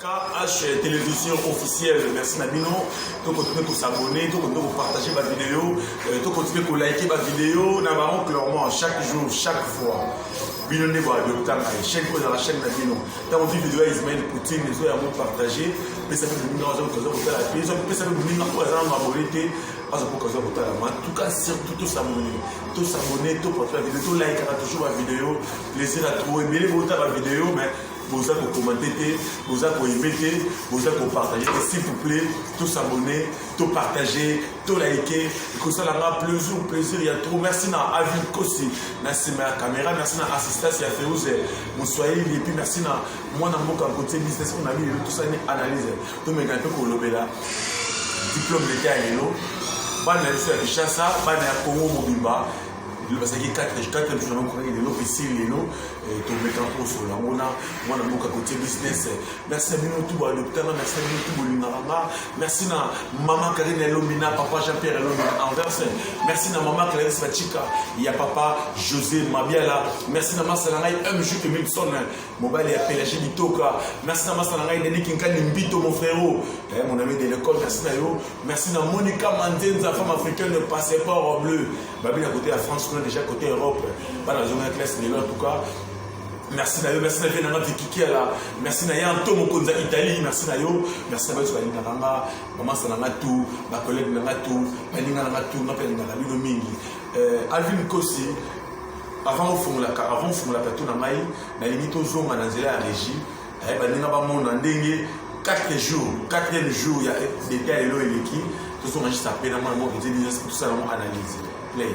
KH télévision officielle merci na bino to continue ko s'abonner to continue ko partager ba vidéo euh, to continue ko liker ba vidéo na ba oncle clairement chaque jour chaque fois bino nde ba docteur na chaîne ko la chaîne na bino tant on vidéo ya Ismaël Poutine les oya mo partager pesa pe bino na zo ko zo ko tala pe zo pesa pe bino ko za na abonner te azo ko zo ko tala ma tout cas surtout to s'abonner to s'abonner to partager vidéo to liker toujours ba vidéo plaisir à trouver bele bo ta ba vidéo mais boza ko commenter te boza ko aimer te boza ko partager te s'il vous plaît to s'abonner to partager to liker ekosala nga plaisir plaisir ya trop merci na avis kosi na nsima ya caméra merci na assistance ya feuse moswahili epuis merci na mwana mboka kotie business oyo na bino tosani analyse tomeka mpe kolobela diplôme leta ya lelo bana ya biso ya kinshasa bana ya congo mobimba bazalaki 4 jour na mokomaki lelo esili lelo Eh, tomeka kosola yango na mwana mboka kotie business eh, merci ya bino tu balopita nga merci ya bino tu bolingaka nga merci na mama karine elombi na papa jean pierre elombi na anvers eh, merci na mama clarisse bachika ya papa josé mabiala merci na masa na ngai mj emilson mobali ya pelage bitoka merci na masa na ngai deni kinkani mbito mon frérot eh, mon ami de l'école merci na yo merci na monica manzenza femme africaine de passeport bleu babi na kote ya france kuna deja kote europe bana bazonga classe lelo en tout cas merci na yo merci na vie nanga vikikiala merci na ye anto mokonzi ya italie merci na yo merci na bato balingaka nga mamasa na nga tu bakolege na nga tu baninga na nga tu nga mpe alingaka bino mingi euh, alvin kosi avant ofungolaka avant ofungolaka to na ngai nalingi tozonga na nzela ya régie Eh, baninga bamona ndenge 4 jours 4e jour ya deta lelo eleki tozonga juste apre na mwana moko ezeli nyonso tosala yango analyse play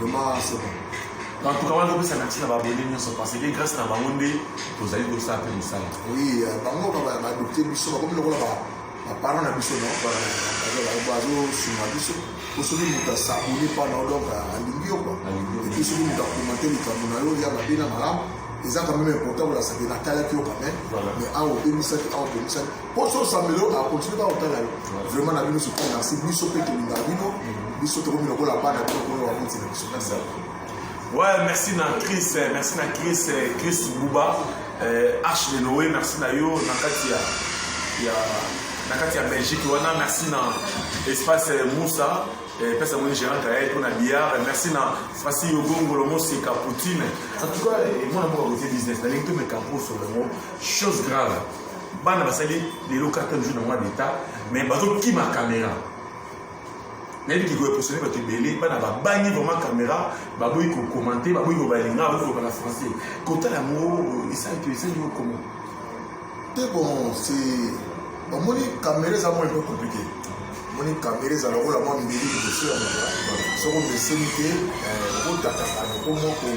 Vraiment, c'est bon. En tout cas, wana topesa merci na babone nyonso parce que grâce na bango nde tozali kosala mpe mosala. Oui, euh, bango badopte biso bakomi lokola baparent na biso bazosunga biso po soki moto asabone mpa na yo donc alingi yo kua epuis soki moto akomante likambo na yo ya mabe na malamu eza quand même important kolasake natalaki yo quand même mais awa obebisaki awa obebisaki poso osambela yo akontinue kaka kotala yo vraiment na bino surtout merci biso mpe tolinga bino biso tokomi lokola bana bino koyo bakonzi na biso merci ouais merci na chris eh, merci na chris eh, chris buba eh, h de noe merci na yo na kati ya ya na kati ya belgique wana merci na espace moussa pesa yango gérant kaye mpo na billard merci na fasi yogongolo moseka poutine en tout cas mwana mboka kote business nalingi tomeka mposo yango chose grave bana basali lelo cartel jour na mwa d'etat mais bazokima kamera nayebi kikoya posone bato ebele bana babangi vraiment kamera baboyi kokomante baboyi kobalinga baboyi koloba na français kotala yango esali to esali yo komo te bon se bamoni kamera eza mwa epe komplike moni kamera ezala lokola mwa mbeli liboso ya moto soko meseni te eh, okotataka nokomoko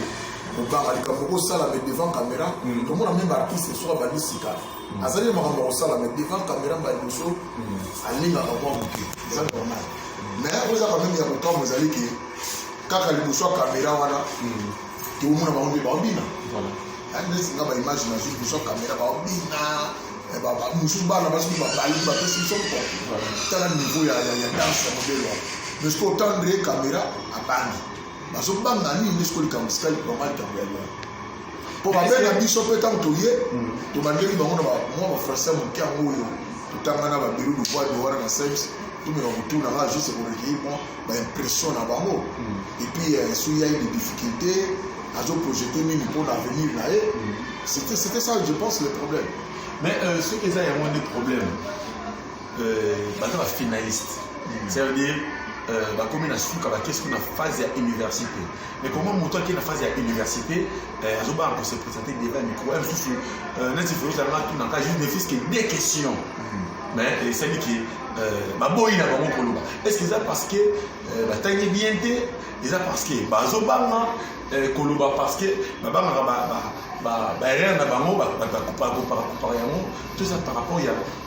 kobanga likambo kosala me devant caméra mm. tomona meme artiste soki abandi sika mm. azali na makambo ya kosala me devant caméra mba liboso mm. alingaka mwa moke eza normal mais oyo eza quand meme ya kokambo ezali ke kaka liboso ya caméra wana tokomona bango nde baobina neti nga baimage nazwi liboso ya caméra baobina eh, mosusu bana basi babali bapesi biso mpo tala niveau ya danse ya modele wana mais soki otandre caméra abangi bazo banga nini nde sikoyo likambo sikali bango likambo ya loin mpo babenga biso mpe ntango toye mm. tobandeli bango na mwa bafrançais moke yango oyo totanga na babiro duvoir de wana na seps tomeka kotuna nga juste korecueillir mwa baimpression na bango mm. epuis euh, soki yai de difficulté azoprojete nini mpo na avenir na ye mm. c'était ça je pense le problème mais euh, soki eza yango nde problème euh, baza ba finaliste mm. ça veut dire euh, bakomi na suka bakei soki na phase ya université mais koma moto akei na phase ya université euh, azobanga kose présente devant micro ya mosusu neti folozalanga tunaka juste ne fils que des questions mm. mais esali ke baboyi na bango koloba est ce que eza parce que batangi bien te eza parce que bazobanga Eh, koloba parce que babangaka baerreur na bango bakopakopaka yango toza par rapport ya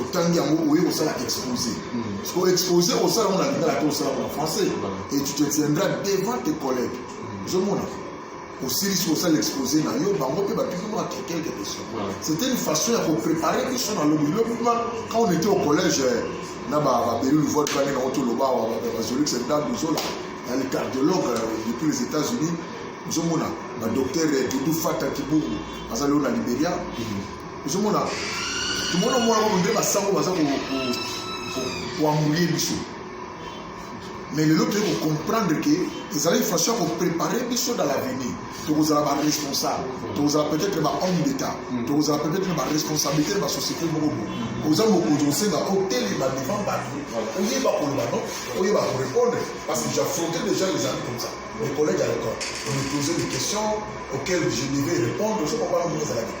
otangi yango oye kosala expose siko hmm. expose osala ngo na lingala te osala ngo na français et tu te tiendras devant tes collègues hmm. ozomona osilisi kosala expose na yo bango mpe bapiki mwa quelque question c'était une façon ya koprépare biso na lobi lobi ma quand on était au collège eh, na babelulu vote bane nango toloba bazolix ndambi ozola na le cardiologue eh, depuis les états unis ozomona badocteur eh, dudu fata kibungu azali oyo na liberia hmm. ozomona tomona mwana moko nde basango baza koambulie biso mais lelo toyei kocomprendre ke ezalaki façon ya koprépare biso dans l'avenir tokozala baresponsable tokozala peut-être bahomme d'état hmm. tokozala peut-être baresponsabilité na basociété moko bo hmm. oza mokonzi osenga otelema devant bato oyeba koloba no oyeba korépondre parce que j'affrontais déjà les amis comme ça mes collègues à l'école on me posait des questions auxquelles je devais répondre ozo comprendre moko ezalaki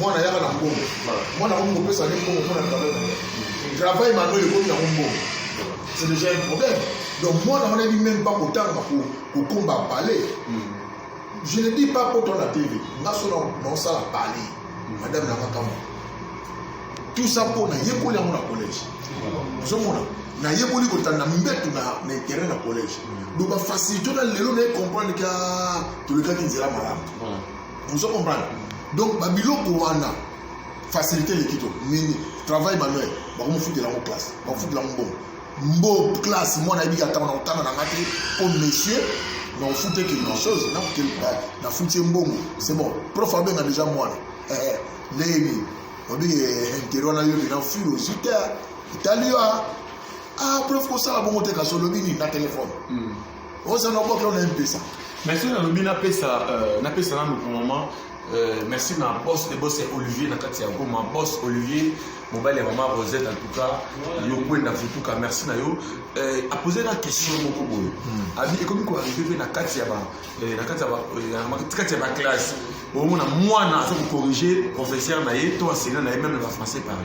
mwana yaka na mbongo mwana akomi kopesa nde mbongo mpo na travail na ye travail manuel ekomi yango mbongo c'est déjà un problème donc mwana wana yebi meme pas kotanga kokomba palais hmm. je ne dis pas poto na tv nga so naosala palais hmm. madame na makambo tout ça mpo nayekoli yango na collège ozomona nayekoli kotanda mbetu na interet na collège hmm. donc bafacilité na lelo naye comprendre ka tolekaki nzela malamu ozo comprendre donc ba biloko wana facilité eleki to nini travail manuel bakomofutela yango classe bakofutela yango mbongo mbo classe mwana ayebi ata na kotanga na nga te o oh, monsieur na ofute quelque chose na futi ye mbongo c'est bon prof abenga déjà mwana eh, eh, ndenge nini obi eh, intere wana yo bina filo ozwi te etali yo a ah, prof kosala bongo te kasi olobi nini na telefone hmm. oza na bokla na mpesa mais soki nalobi napesa euh, napesa nanu pour moment euh, merci na boss de boss ya olivier na kati ya goma boss olivier mobali ya mama rosette en tout cas yo kwenda futuka merci na yo euh, apose na question moko boye hmm. abi ekomi koarrive mpe na kati ya kati ya baklasse omona mwana aza kocorrige professeur na ye to enseignant na ye meme na bafrançais parle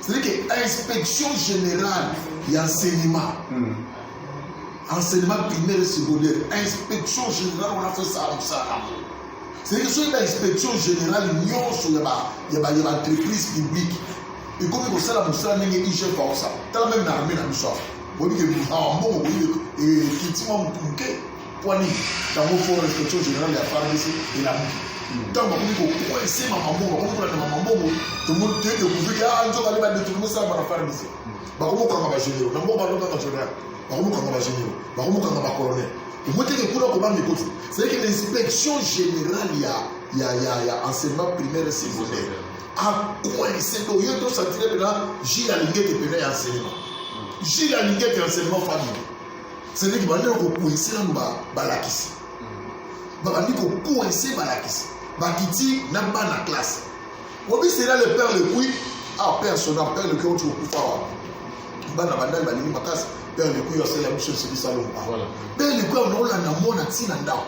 C'est-à-dire que inspection générale ya enseignement. Mm. Enseignement primaire et secondaire, inspection générale on a fait ça comme ça. C'est-à-dire que soki ba inspection générale nyonso ya ba ya ba ya ba entreprise publique ekomi kosala mosala ndenge IGF akosala. Tala même na armée na biso. Boni ke mbongo boye ekiti mwa moke. Mpo nini? Tango fond d'inspection generale ya FARDC elamuki, ntango bakomi kokwese mamambongo, bakomi kolanda mamambongo, tomoni te découvrir que ah nzoka nde ba détournement esalama na FARDC. Bakomi kokanga ba généraux, na mboka wana kaka général, bakomi kokanga ba généraux, bakomi kokanga ba colonels. Omoni te que kuna kobanga ekoti, c'est que l'inspection générale ya ya ya ya enseignement primaire et secondaire akwese do yo tosantire mpena jile alingete mpena ya enseignement jile alingete enseignement famille cedeki bandi na kokoinse nanu balakisi babandi kokoinse balakisi bakiti na bana classe obi sela le père lepui ah père sona père lepui oti kokufa wapi bana bandali balingi makasi père lepui asala biso esilisa lomba père lepui aonaolanda mwana ntina ndako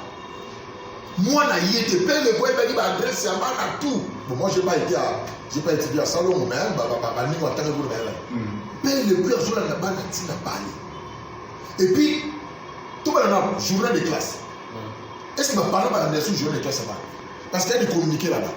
mwana ye te père lepui ayebaki baadresse ya bana tout bon moi j'ai pas été à j'ai pas étudié à salongo mais baningo atangaki kuna na yelaki père lepui azolanda bana ntina bale et puis tobalana journal de classe est ce que baparent balandela su journal de classe abana parce que ya bicommunike laba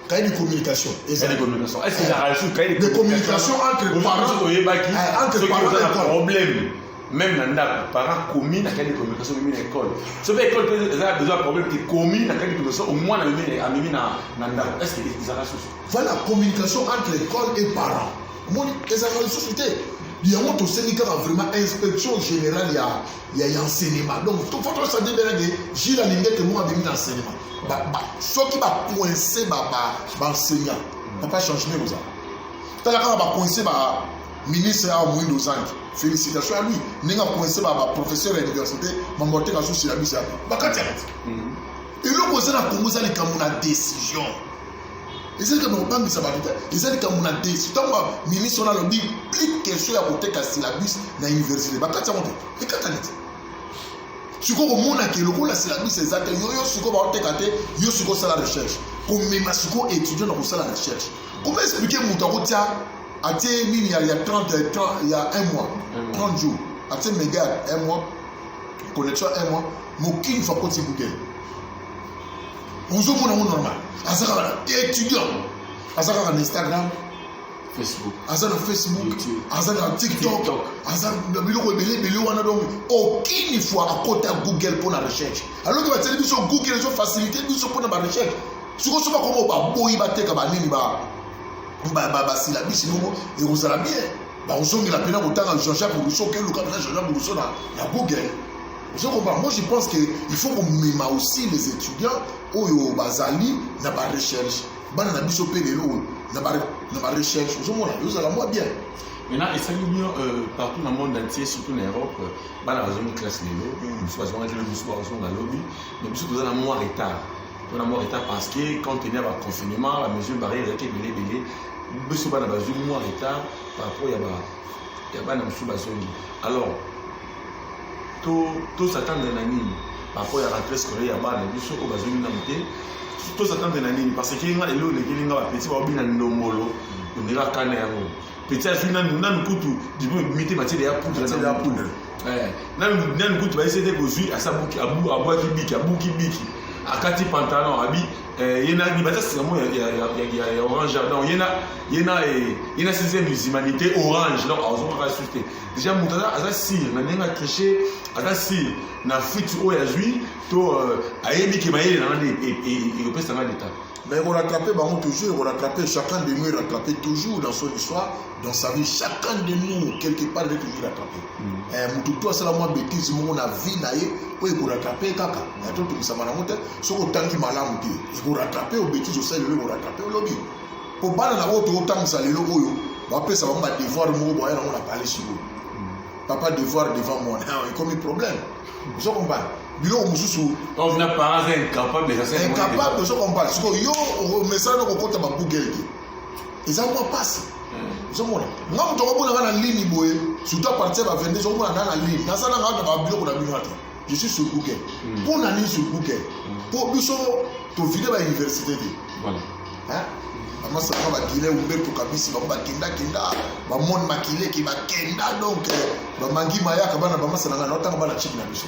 cahier de communication ezali de communication est ce que ezalaka lisusu cahier de communication entre parents oyebaki eh, entre parents na problème même na ndako parent komi na cahier de communication omemi na école soki école mpe eza besoin problème te komi na cahier de communication omwana amemi na ndako est ce que ezalaka susu voilà communication entre école et parents omoni ezalaka lisusu te yango tosengi kaka vraiment inspection générale ya ya ya enseignement donc fo tosandi mbela ke jile alingi ete moko abimi na enseignement soki bacoince baenseignant papa changement ekoza tala kaka bacoince ba ministre awa moindo ozangi félicitation ya lui ndenge akoinse baprofesseur ya université mambote kasusi ya bisa bakati yango eloko eza na kongo eza likambo na décision eza likambo ya kobangisa bato te eza likambo na desi ntango ministre wana alobi plus question ya koteka syllabus na université bakati yango te ekatani te sikoyo komona ke lokola syllabus eza te yo yo sikoyo baoteka te yo sikoyo osala recherche komema sikoyo étudiant na kosala recherche koma explike moto akotia atie nini ya 30 ya 1 mois 30 jours atie mega ya 1 mois connexion 1 mois mokini fakoti bukele ozomona yango normal aza kaka na étudiant aza kaka na instagram Facebook. aza na facebook YouTube. aza na tiktok TikTok. aza na biloko ebele ebele wana donc aucune fois akota google mpo na recherche alors ke batieli biso google ezo facilité biso mpo na barecherche sikoyo so bakomo baboyi bateka banini ba- ba- ba- basilabisi bongo ekozala bien bakozongela mpena kotanga jean-jacques rousseau keluka mpena jean-jacques rousseau na, na google ozo comprendre moi je pense que il faut komema aussi les étudiants oyo bazali na barecherche bana na biso mpe lelo oyo na barecherche ozomona ezala mwa bien maintenant esali bien euh, partout na monde entier surtout na europe euh, bana bazongi classe lelo mm. mosusu bazongaki lelo mosusu bazonga lobi mais biso toza na mwa retard mpona mwa retard parce que quand tenia ba confinement ba mesure barrière ezalaki ebele ebele biso bana bazwi mwa retard par rapport ya ba ya bana mosusu bazongi alors tozatanda na nini par rapport ya rentrée scolaire ya bana biso oyo bazongi nanu te tozatanda na nini parce que nga lelo olekeli nga bapeti baobi na ndombolo ondela kana yango petit azwi nanu nanu kutu diplome ebimi te matiele ya poudre Matiele ya poudre. Eh, nanu nanu kutu bayese te kozwi asi abuki abu- abwaki biki abuki biki akati pantalon abi eh, ye na libata sika mo ya, ya, ya, ya, ya, ya orange ya- donc ye na ye na eh, ye na sixième humanité orange donc azokaka susu te déjà moto aza, aza sire na ndenge atriche aza sire na fuite oyo azwi to euh, ayebi ke mayele na nga nde e- e- e- ekopesa nga leta Mais on rattrape Bango toujours, on rattrape chacun de nous, rattrape toujours dans son histoire, dans sa vie. Chacun de nous, quelque part, il est toujours rattrapé. Mm. Eh, Mututu asala mwa bêtise moko na vie na ye oyo ekorattrape kaka ya to tokisama nango te soki otangi malamu te ekorattrape o bêtise osali lelo ekorattrape olobi mpo bana na oyo tootangisa lelo oyo bapesa bango badevoir moko boya nango na palais sikoyo mm. papa devoir devant moi ekomi problème ozo comprendre biloko mosusu incapable ozo comprendre siko yo omesana okokota ba google te eza mwa mpasi ozomona nga moto akomona nga na lini boye surtout apartir ba 22 okomona nga na lini naza na nga na babiloko na bino ata je suis sur google hmm. mpo na nini sur google mpo hmm. biso tovide ba université te amasaka bakile umbeto kabisi bango bakendakenda bamoni makile ke bakenda donc eh, bamangi mayaka bana bamasananga naotanga bana chiki na biso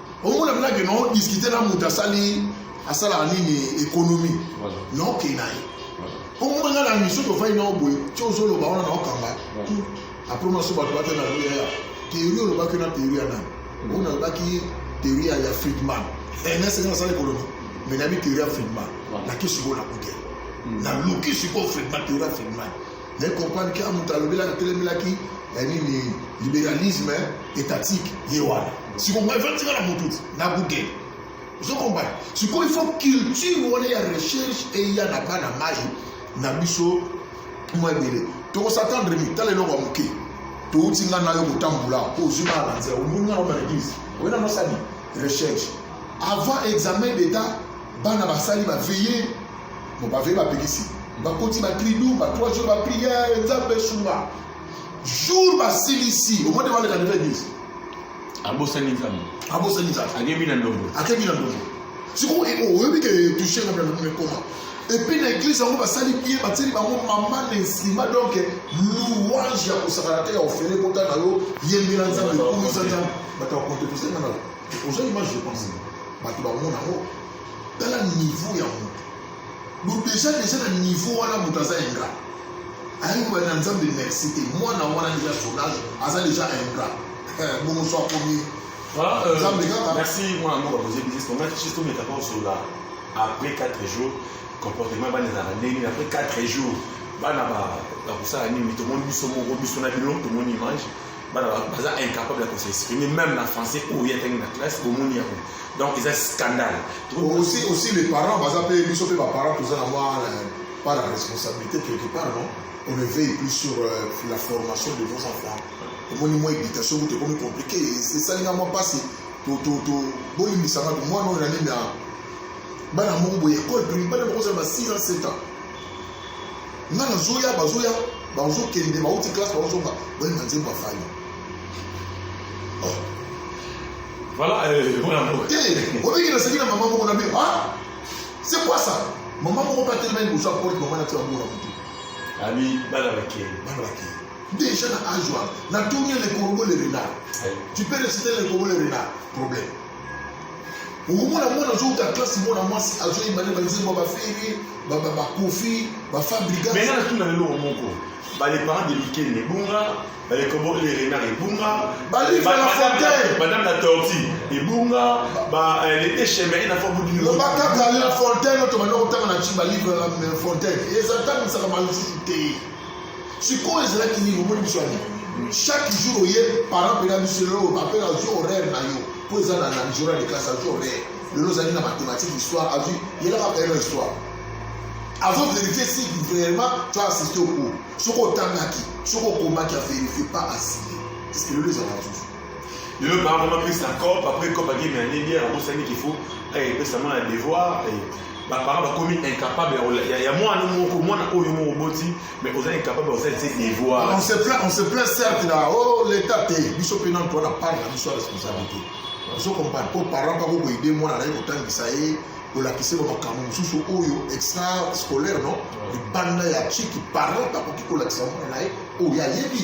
omona mpenza ke non discute na moto asali asalaka nini économie na okei na ye omona ngai na miso tofai na oboye ti ozoloba wana na okanga apres mona so bato bate na loyaya théorie olobaki na théorie ya nani oyo mm. nalobaki théorie ya friedman ernest nga nasala économie mais nayebi théorie ya friedman nakisi ko na google naluki sikoyo friedman théorie ya friedman Vous avez compris que Amuta Lobela a tellement qui est le libéralisme étatique. Il y a Si vous comprenez, vous avez Amuta, n'a bouquet. Vous avez compris Si vous faut culture, vous avez la recherche et il y a la bana maille, n'a biso, moi, il Donc, on s'attend de lui, t'as les noms à bouquet. touti ngai na yo kotambula mpo ozwi ngai na nzela omoni ngai na eglise oye na nosali recherche avant examen d'état bana basali baveille Bon, ba vrais babikisi. Bakoti ba tribu, ba trois jours ba prière, Nzambe sunga. Jour ba silisi, au moins devant les candidats disent. Abosani Nzambe. Abosani Nzambe. Akebi na ndobo. Akebi na ndobo. Siko oyebi ke touche na bana mais comment? Et puis na église yango basali bien batieli bango mama na nsima donc louange ya kosakana te ya ofele kota na yo yembela nzambe kumisa nzambe bato ya konte tosengana oza image je pense bato bango nango tala niveau ya moto bo deja deja na niveau wana moto aza ingrat ayebi kobali na nzambe merci te mwana wana deja sondage aza deja ingrat eh, bongo so akomi ah, euh, nzambe kaka merci mwana moko akoze bisis tomaki bisis tometaka osola après 4 jours comportement bana ezalaka ndenge après 4 jours bana bakosala nini tomoni biso moko biso na bino tomoni image bana baza incapable ya kose exprimer même na français oyo ye atangi na classe bomoni yango donc eza scandale aussi aussi les parents baza mpe biso mpe baparent toza na mwa euh, par la responsabilité quelque part non on ne veille plus sur euh, la formation de nos enfants omoni mwa éducation kutu ekomi compliqué esalinga mwa mpasi bolimbisanga mwana oyo na nini bana moko boye ekole bana bakozala ba 6 ans 7 ans nga nazoya bazoya bazokende bauti classe bazozonga bayemba nzembo afani oh. voilà euh, te eh, obiki naseki na mama moko na bi ah, c'est quoi ça mama moko mpe atelemani liboso ya porte mama natia bango na motu abi bana bakei bana bakei déjà na age wana natuni le corbeau le renard tu peux reciter le corbeau le renard problème okomona mwana azouta klase mwana mwasi azoyemba nde banzembo ya baferi bakofi bafabriga me nga natuna lelo moko bale parent de mikene ebunga bale kobo le renard ebunga madame la tortue ebunga euh, le decheme ena fo budi loba kaka la fontaine otomanda kotanga na ci balivre la fontaine eza ntango misaka malususu te sikoyo ezalaki nini omoni biso ani chaque jour oye parent mpena biso lelo bapela azwi horaire na yo mpo eza na na journal de classe azwi horaire lelo ozali na mathématique histoire azwi yelaka payelo histoire azo vérifie si vraiment tu as assisté au cours soki otangaki soki okomaki a vérifie pas asile est ce que lelo ezalaka susu Le lelo baa vraiment pesa cop après cop ake mais ane bière abosani qu'il faut epesa mwana ya devoir baparent bakomi incapable ya mwana moko mwana oyo moko oboti mais oza incapable oza ti devoir on se plaint on se plaint certes na oh l'état te biso mpe nano towana part na biso ya responsabilité ozo comprendre mpo parent bako koyede mwana naye kotangisa ye kolakisa bamakambo mosusu oyo extra scolaire non libanda ya chiki parent akoki kolakisa mwana na ye oyo ayebi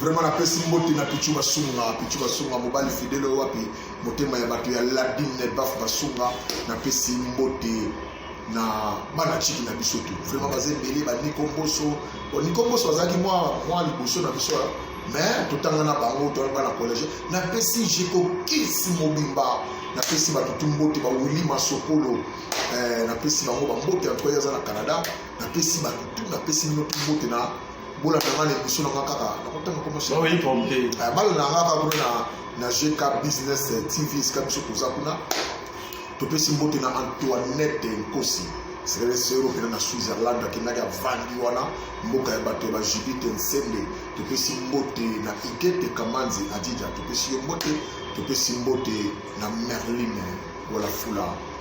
Vraiment napesi mbote na Pichu Basunga, Pichu Basunga mobali fidele wapi motema ya bato ya Ladine Baf Basunga, napesi mbote na bana chiki na biso tu. Vraiment baza ebele ba Nico Mboso, bon Nico Mboso azalaki mwa mwa liboso na biso mais totanga na bango to bana collège, napesi Jeko Kiss mobimba, napesi bato tu mbote ba Willy Masokolo, eh, napesi bango ba mbote en tout cas aza na Canada, napesi bato tu, napesi mino tu mbote na bola na nga na emission na nga kaka nakotanga komosbalo na nga kaka kuna na gk business eh, tv esika biso toza kuna topesi mbote na antoinette nkosi seresero okenda na switzerland akendaki avandi wana mboka ya bato ya bajudite nsende topesi mbote na igete kamanzi adija topesi yo mbote topesi mbote na merline walafula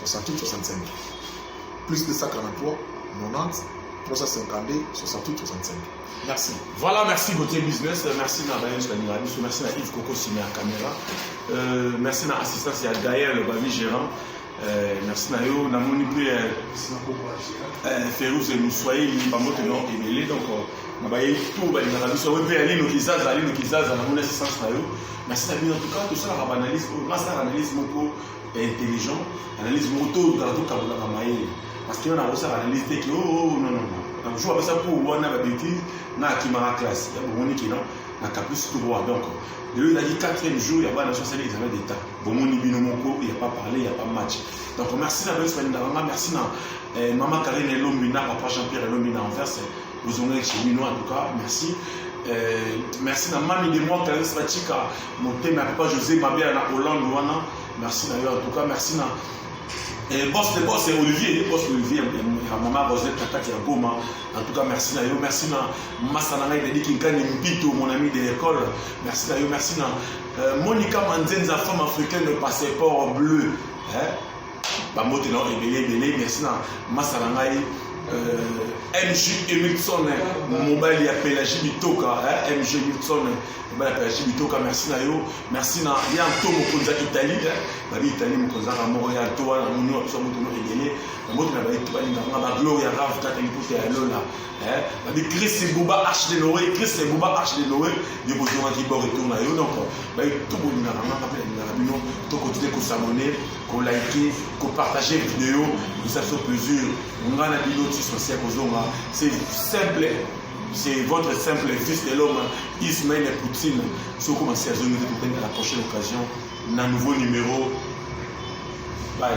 68 65 plus 243 90 352 68 65 merci voilà merci beauté business merci na bayesu baninga biso merci na yves koko sima ya caméra euh, merci na assistance ya gael babi gérant euh, merci na yo namoni mpe euh, euh, ferus emuswahili bambote no ebele donc euh, na bayebi to balingaka biso yango mpe ya lino kizaza lino kizaza namoni assistance na yo merci na bino en tout cas tosalaka baanalyse oyo nasalaka analyse moko intelligent analyse moko to ozala tokabolaka mayele parce que wana akosaka analyse te ke oo oh, oh, oh, non non donc jour apesa pour wana babetise na akimaka classe ya bomoni ke non na caprice tout droit donc lelo ezalaki quatrième jour ya bana sosali examen d'état bomoni bino moko ya pas parler ya pas match donc merci na bayesu balingaka nga merci na eh, mama karine elombi na papa jean pierre elombi na anverse ozonga chemino en tout cas merci euh, merci na mami de moi clarisse bachika motema ya papa josé mabela na hollande wana merci na yo en tout cas merci na Eh, boss de boss eh, olivier boss olivier ya eh, mama rosette na kati ya goma en tout cas merci na yo merci na masa na ngai dadi kinkani mpito mon ami de l'école merci na yo merci na euh, monica manzenza femme africaine de passeport bleu eh? bambote na yo ebele ebele merci na masa na ngai euh, mg emilson mobali ya pelagie bitoka mg emilson mobali ya pelagie bitoka merci na yo merci na ya nto mokonzi ya italie babi italie mokonzi aka moko ya nto wana moni wa biso motono ebele bambote na baito balinganga bagloria rave kaka liputa ya lola babi chris buba arche de noe chris buba arche de noe yo bozongaki bord etour na yo donc baito bolingaka ngaka mpe nalingaka bino tokontine kosabone ko liker ko partager video eza biso plaisir nga na bino ti sosie kozonga c'est simple c'est votre simple fils de l'homme ismail poutine soko masi azongi te tokende à la prochaine occasion na nouveau numéro bye